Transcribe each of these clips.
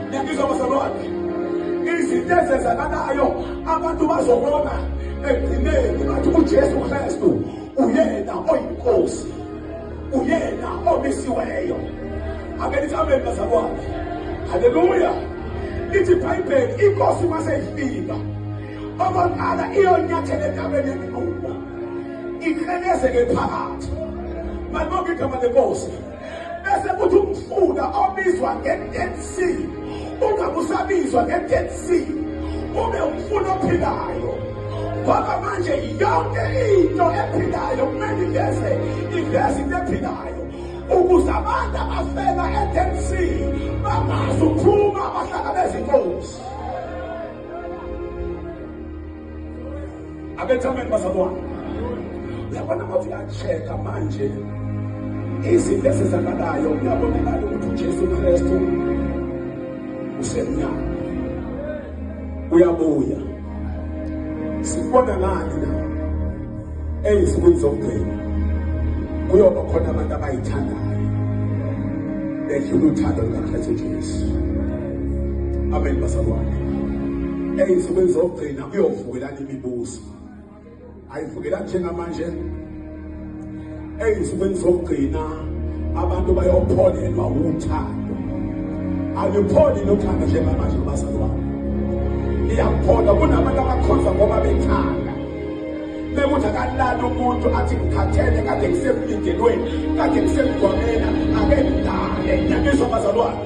ngiyabizwa bazalwane izinto ezenzakalayo abantu bazobona ekugcineni bathi ujesu kristu uyena oyinkosi uyena omisiweyo ake lithi amen bazalwane haleluya lithi ibhayibheli inkosi mase ifika okokuqala iyonyathela entabeni yeminqumo ikhelezeke phakathi manibonke igama lenkosi bese kuthi umfula obizwa nge-dead sea ungabe usabizwa nge-dead sea ube umfula ophilayo ngoba manje yonke into ephilayo kumele iveze iveze into ephilayo ukuze abantu abafela e-dead sea bangazi ukuphuma bahlangabeza inkosi abethi amen bazalwane uyabona ngothi uyacheka manje izinto ezizakalayo kuyabonakala ukuthi ujesu kristu usemnyama uyabuya sikubona ngani na ezinsukwini zokugcina kuyoba khona abantu abayithandayo bedlula uthando lukakristu jesu amen bazalwane ezinsukwini zokugcina kuyovukelana imibuso ayivukela njengamanje eyinsukwini zokugcina abantu bayopholelwa wuthando alipholi nothando njengamanje kubazali wabo liyaphola kunabantu abakhonza ngoba bethanda bekuthi akalala umuntu athi ngikhathele kade ngisemlindelweni kade ngisemgwamena ake ngidale nyaniswa bazalwane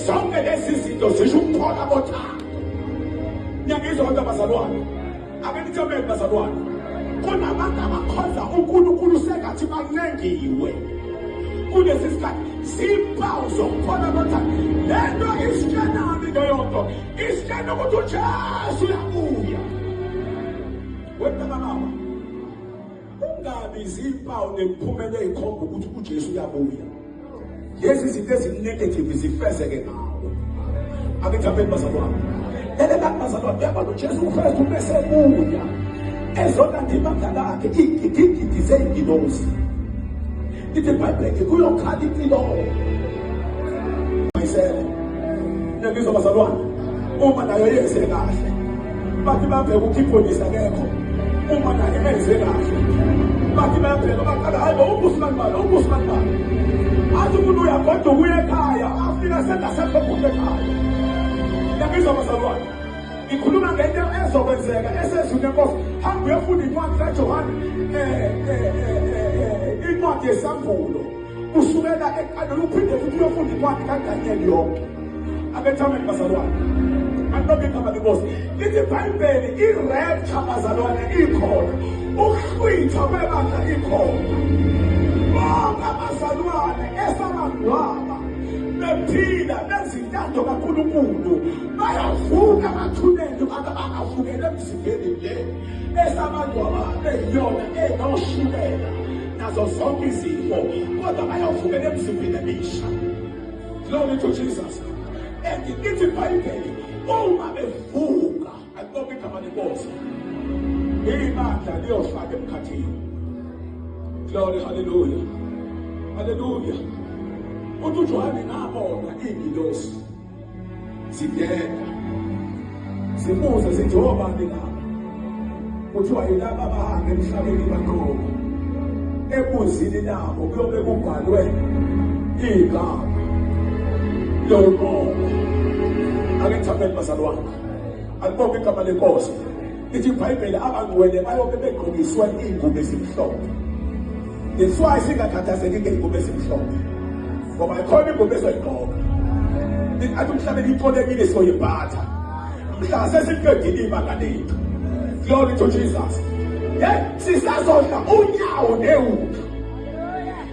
zonke lezi zinto zisho ukuphola bothando Niyangizwa kodwa bazalwane? Ake nithobele bazalwane. Kunabantu abakhonza uNkulunkulu sengathi bancengiwe. Kulesi sikhathi simpawu zokubona ukuthi le nto isitshenani leyo nto. Isitshena ukuthi uJesu uyabuya. Wena baba Ungabi izimpawu nemiphumela ezikhomba ukuthi uJesu uyabuya. Lezi zinto ezinegative zifezeke ngawo. Akethabeni bazalwane. Lele kanti bazalwane uyabona uJesu uKristu bese buya. Ezona ndima ngakakhe igidingidi zeyingilosi. Ithi iBhayibheli kuyokhala impilo. Mayisele. Nengizwa bazalwane. Uma nayo yenze kahle. Bathi babheke ukhiphonisa kekho. Uma nayo yenze kahle. Bathi babheke baqala hayi bo ubusman bani ubusman bani. Athi umuntu uyagoda ukuya ekhaya afika sengasekho kuhle ekhaya. Nengizwa bazalwane. Ngikhuluma ngento ezokwenzeka esezwini enkosi. Hamba uyofunda incwadi kaJohane eh, eh, eh, incwadi yesambulo kusukela eqaleni uphinde futhi uyofunda incwadi kaDaniyeli yonke. Abethameni bazalwane. Antoke igama lenkosi. Lithi iBhayibheli irepture bazalwane ikhona. Ukuhlwitha kwebandla ikhona. Bonke abazalwane esabangcwaba bephila bezintando kaNkulunkulu bayavuka bathulele abantu abangavukela emzimbeni le esabantu ababeyiyona enoshukela nazo zonke izifo kodwa bayavukela emzimbeni emisha glory to jesus and ithi ibhayibheli uma bevuka akubonga igama lenkosi ibandla liyofaka emkhathini glory haleluya haleluya uthi ujohane ngabona iingilosi Siyeka. Simuze sithi obani la. Kuthiwa yilaba abahambe emhlabeni baqobo. Ebuzini nabo kuyobe kubhalwe igama. Lolqobo. Ake ngithambe bazalwane. Alibonge igama lenkosi. Lithi iBhayibheli abangcwele bayobe begqokiswe iy'ngubo ezimhlophe. That's why singakhathazeki ngey'ngubo ezimhlophe. Ngoba ikhona ingubo ezoyigqoka. Athi umhlabeni iqolekile soyibhatha. Mhla sesiqedile ibanga lethu. Glory to Jesus. Yeah, sisazodla unyawo newundlu.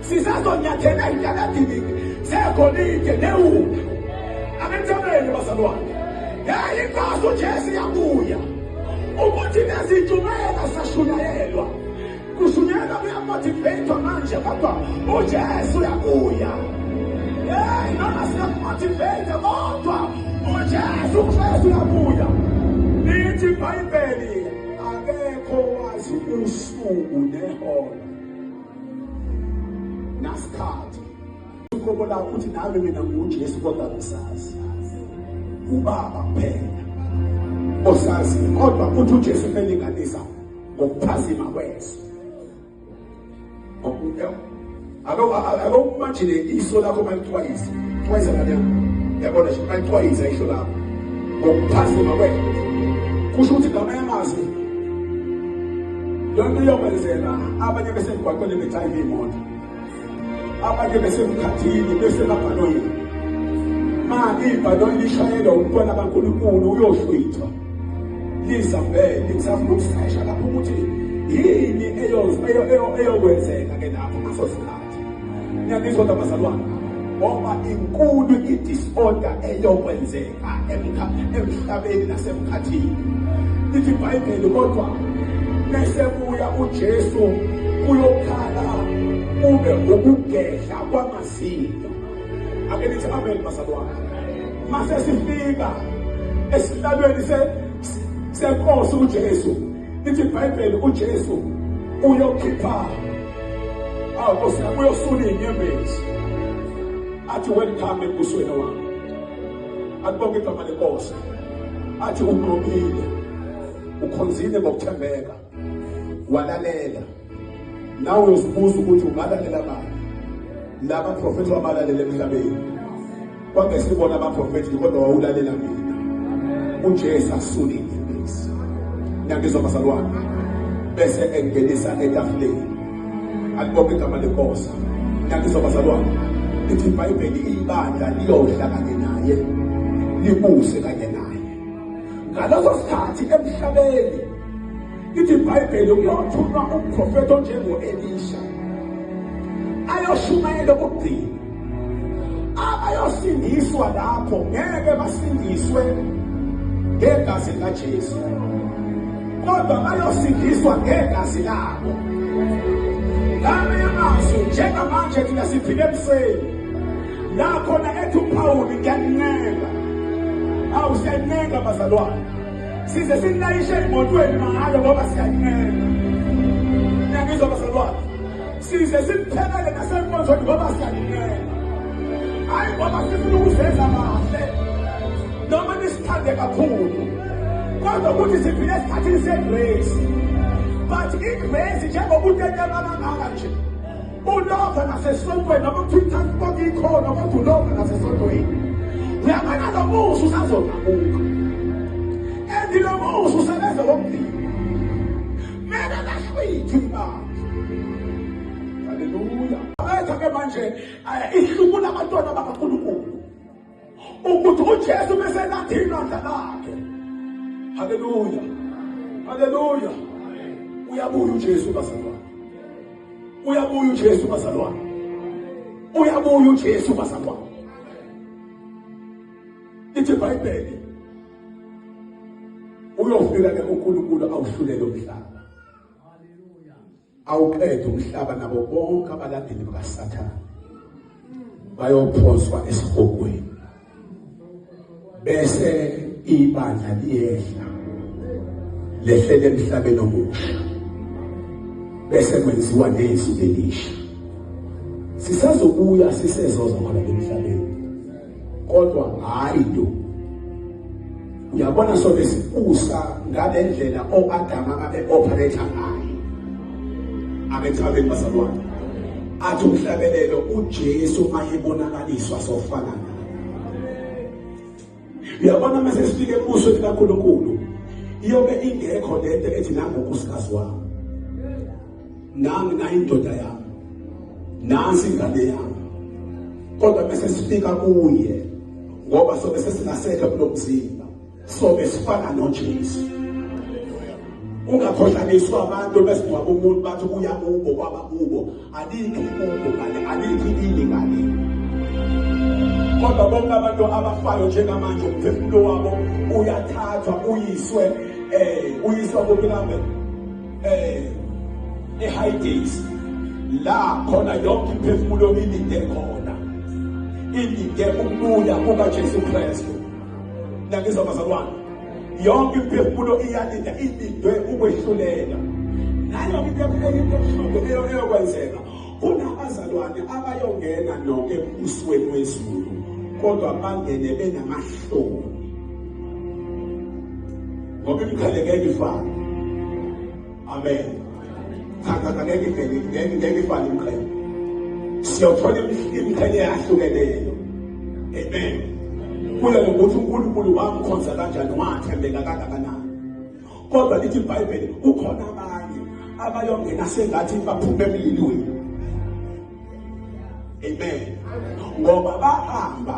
sisazonyathela intakadini zegolide newuka abentabeni bazalwane yayi inkosi ujesu yabuya ukuthi nezijumela sashunyayelwa kushunyayelwa kuyamotiveyithwa manje kodwa ujesu uyabuya yeyi noma siyakumotiveyitha kodwa ujesu ujesu uyabuya lithi ibhayibheli akekho wazi usuku nehora nasikhathi uqobo lakho ukuthi nami mina ngujesu kodwa ngisazi ubaba kuphela osazi kodwa futhi ujesu umelinganisa ngokuphazima kweso akokumajine iso lakho malixwayise xwayisa kanyan yabona nje malixwayisa isho lakho ngokuphazima kweso kusho ukuthi ngamanye amazwi Yonke iyokwenzeka abanye besemgwaqweni bethayive imoto. Abanye besemkhathini besemabhanoyini. Ma ibhanoyi lishayelwa umntwana kaNkulunkulu uyohlwithwa. Lisa vele ngisafuna ukusesha lapho ukuthi yini eyokwenzeka ke lapho kusosikhathi. ngiyanizwa kodwa bazalwane ngoba inkulu i-disorder eyokwenzeka emhlabeni nasemkhathini lithi ibhayibheli kodwa bese kuya ujesu kuyokhala kube ukugedla kwamazinyo ake nithi amen bazalwane mase sifika esihlalweni senkosi ujesu Lithi iBhayibheli uJesu uyokhipha awu Nkosi yami uyosula inyembezi athi welcome embusweni wami akubonga igama lenkosi athi unqobile ukhonzile ngokuthembeka walalela nawe uzibuza ukuthi ungalalela bani laba profethi wabalalela emhlabeni kwakesibona abaprofethi kodwa wawulalela mina ujesu asule imfundiso niyangizwa bazalwane bese engenisa etafuleni alibophe igama lenkosi niyangizwa bazalwane lithi ibhayibheli ibandla liyodla kanye naye libuse kanye naye ngaleso sikhathi emhlabeni Ithi iBhayibheli kuyothunywa umprofethi onjengo-Elisha ayoshumayela okugcina. Abayosindiswa lapho ngeke basindiswe ngegazi likaJesu, kodwa bayosindiswa ngegazi labo. Ngame amazwi njengamanje thina siphile ebusweni la khona ethi uPawulu ngiyakuncenga, awu siyakuncenga bazalwane size sinilayishe emotweni mahhala ngoba siyalimela niyangizwa bazalwane size simthelele nasenkonzweni ngoba siyalimela hhayi ngoba sifuna ukuzenza kahle noma nisithande kakhulu kodwa ukuthi siphile esikhathini segrace but igrace njengokutetema kangaka nje Ulova nasesontweni noma kuthiwa konke ikhona kodwa ulova nasesontweni. Uyabona lo musa usazonabuka. Endi lo musa usebenza ngomdili. Mele lahlwithi ibanga. Haleluya. Abetha ke manje eh, ihlubula abantwana bakaNkulunkulu. ukuthi uJesu bese nathi inandla lakhe haleluya haleluya uyabuya uJesu bazalwane uyabuya uJesu bazalwane uyabuya uJesu bazalwane ithi ibhayibheli uyofika ke uNkulunkulu awuhlulele umhlaba awuqede umhlaba nabo bonke abalandeli bakasathane bayophonswa esihogweni bese ibandla liyehla lehlele emhlabeni omusha bese kwenziwa nezwi elisha sisazobuya sisezoza khona emhlabeni kodwa hayi do uyabona sona sibusa ngale ndlela o-adama abe-operator ngayo abethabeni basalwane athi umhlabelelo ujesu ayebonakaliswa sofana uyabona uma sesifike ebusweni kankulunkulu iyobe ingekho le nto ethi nangokusikazi wami nami nayindoda yami nansi ingane yami kodwa bese sifika kuye ngoba sobe sesingasekho kulomzimba sobe sifana noJesu ungakhohlaniswa abantu bese ngoba umuntu bathi kuya kubo kwaba kubo alikho kubo ngale alikho ini ngale kodwa bonke abantu abafayo njengamanje umphefumulo wabo uyathathwa uyiswe eh uyiswa kubilambe eh eHighgate la khona yonke imphefumulo ilinde khona ilinde ukubuya kukaJesu Kristu nangizwa bazalwane yonke imphefumulo iyalinda ilindwe ukwehlulela nayo into ebuhlungu eyokwenzeka Kunabazalwane abayongena noke embusweni wezulu kodwa bangene benamahloni ngoba imikhaleke ifana amen thakatha ngeke ngeke ngeke ngeke ifane imikhaleke siyothola imikhaleke yahlukeneyo amen kuye ngokuthi unkulunkulu wamkhonza kanjani wathembeka kangakanani kodwa lithi ibhayibheli kukhona abanye abayongena sengathi baphume emlilweni amen ngoba bahamba